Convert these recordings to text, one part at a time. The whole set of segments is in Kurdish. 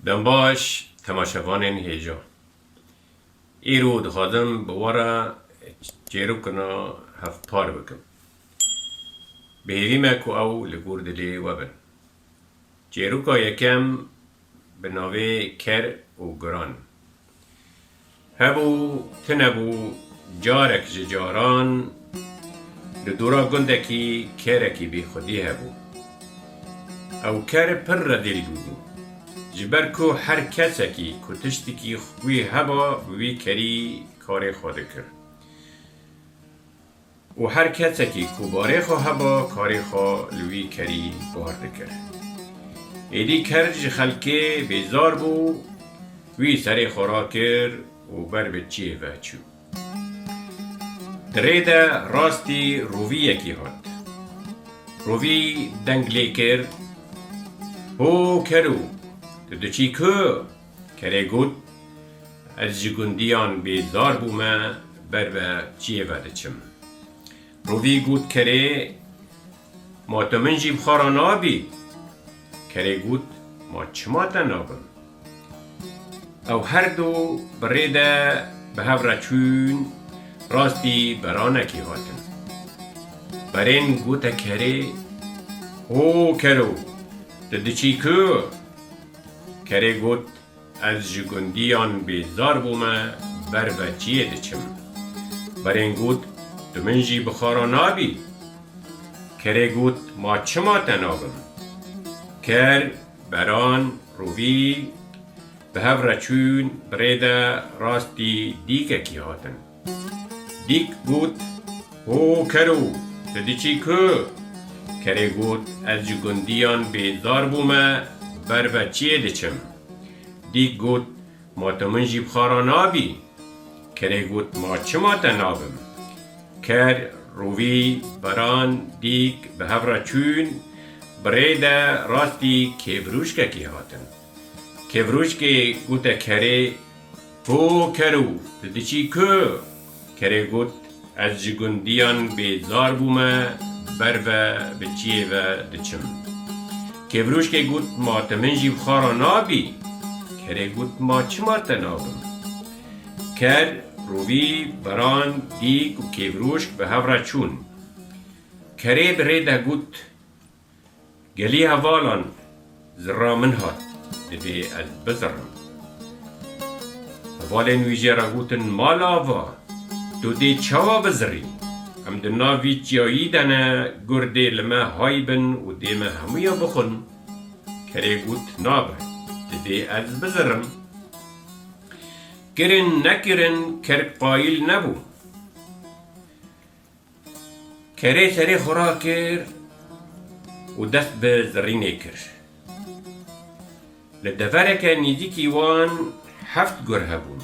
Dembaş, Temaşevanên hêja Îro dixwazim bi we re çêrokina hevpar bikim. Bi hêvî me ku ew li gor dilê we bin. Çêroka yekem bi navê Ker û Guran Hebû tunebû carek ji caran li dûra gundekî kerekî bîxwedî hebû. Ew ker pir redîl bûbû. Ji ber ku her kesekî ku tiştikî wî heba bi wî kerî karê xwe dikir. Û her kesekî ku barê xwe heba karê xwe li wî kerî bar dikir. Êdî ker ji xelkê bêzar bû, wî serê xwe rakir û ber bi çiyê ve çû. Di rê de rastî roviyekî hat. Rovî deng lê kir, Ho ker û, tu diçî ku? Kerê got, Ez ji gundiyan bêzar bûme ber ve çiyê ve diçim. Rovî got kerê, Ma tu min jî bi xwe re nabî? Kerê got, Ma çima te nabim? Ew her du bi rê de bi hev re çûn, rastî beranekê hatin. Berên gote kerê, Ho kero, tu diçî ku? Kerê got, Ez ji gundiyan bêzar bûme ber ve çiyê diçim. Berên got, Tu min jî bi xara nabî? Kerê got, Ma çima te nabim? Ker, beran, rûvî, bi hev re çûn, bi rê de rastî dîkekî hatin. Dîk got, Ho kero, tu diçî ku? Kerê got, Ez ji gundiyan bêzar bûme, ber ve çiyê diçim. Dîk got, Ma tu min jî bi xwe re nabî? Kerê got, Ma çima te nabim? Ker, rovî, baran, dîk bi hev re çûn, bi rê de rastî kêfirûşkekî hatin. Kevrûçkê gote kerê, Ho kero, tu diçî ku? Kerê got, Ez ji gundiyan bêzar bûme, ber ve bi çiyê ve diçim. Kevrûçkê got, Ma tu min jî bi xwe re nabî? Kerê got, Ma çima te nabim? Ker, rovî, beran, dîk û kevrûçk bi hev re çûn. Kerê bi rê de got, Gelî hevalan zirra min hat, divê ez bizirrim. Hevalên wî jê re gotin, Mal ava, tu dê çawa bizirî? Em di nav vî çiyayî de ne, gur dê li me hay bin û dê me hemûyan bixwin. Kerê got, Nabe, divê ez bizirrim. Kirin nekirin, ker qayîl nebû. Kerê serê xwe rakir û dest bi zirrînê kir. Li devereke nêzîkî wan heft gur hebûn.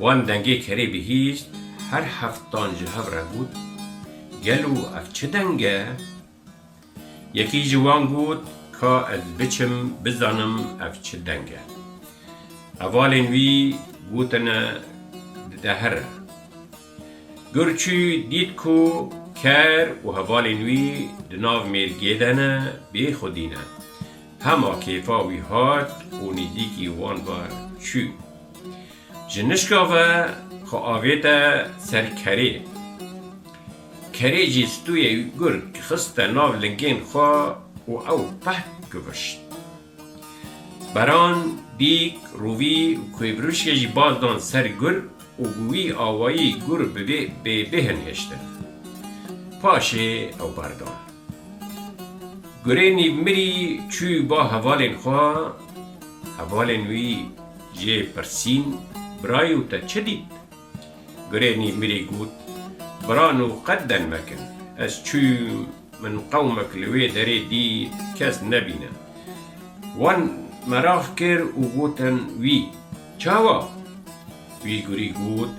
Wan dengê kerê bihîst, her heftan ji hev re got, Gelo ev çi deng e? Yekî ji wan got, Ka ez biçim bizanim ev çi deng e. Hevalên wî gotine dide here. Gur çû dît ku ker û hevalên wî di nav mêrgê de ne, bê xwedî ne. Hema kêfa wî hat û nîzîkî wan ve çû. Ji nişka ve xwe avête ser kerê. Kerê jî stûyê gurg xiste nav lingên xwe û ew peh givişt. Baran, bîk, rûvî û kûêbrûşkê jî baz dan ser gurg û bi wî awayî gurg bi vê bê bêhn hêştin. Paşê ew berdan. Gurê nîv mirî çû ba hevalên xwe, hevalên wî jê pirsîn, Birayê û te çi dît? Girênî mirî got, Birano qet den mekin. Ez çûm, min qewmek li wê derê dît, kes nebîne. Wan merax kir û gotin, Wî, çawa? Wî girî got,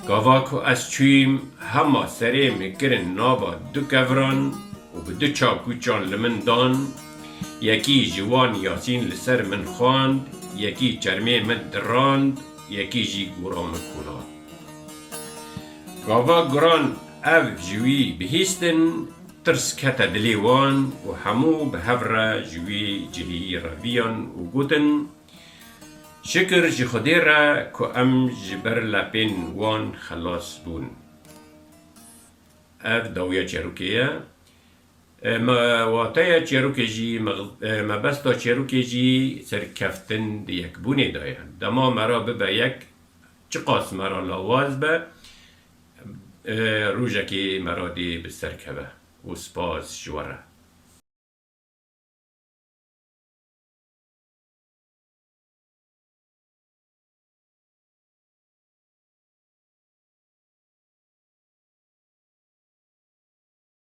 Gava ku ez çûm, hema serê min kirin nava du keviran û bi du çakûçan li min dan, yekî ji wan yasîn li ser min xwand, yekî çermê min dirand, Yekî jî gûra min kuna. Gava giran ev ji wî bihîstin, tirs kete dilê wan û hemû bi hev re ji wî cihî reviyan û gotin, Şikir ji Xwedê re ku em ji ber lepên wan xelas bûn. Ev dawiya çerûkê ye. Me wateya çêrokê jî, mebesta çêrokê jî serkeftin di yekbûnê de ye. Dema me re bibe yek, çiqas me re lawaz be, rojekê me re dê bi ser keve û spas ji we re.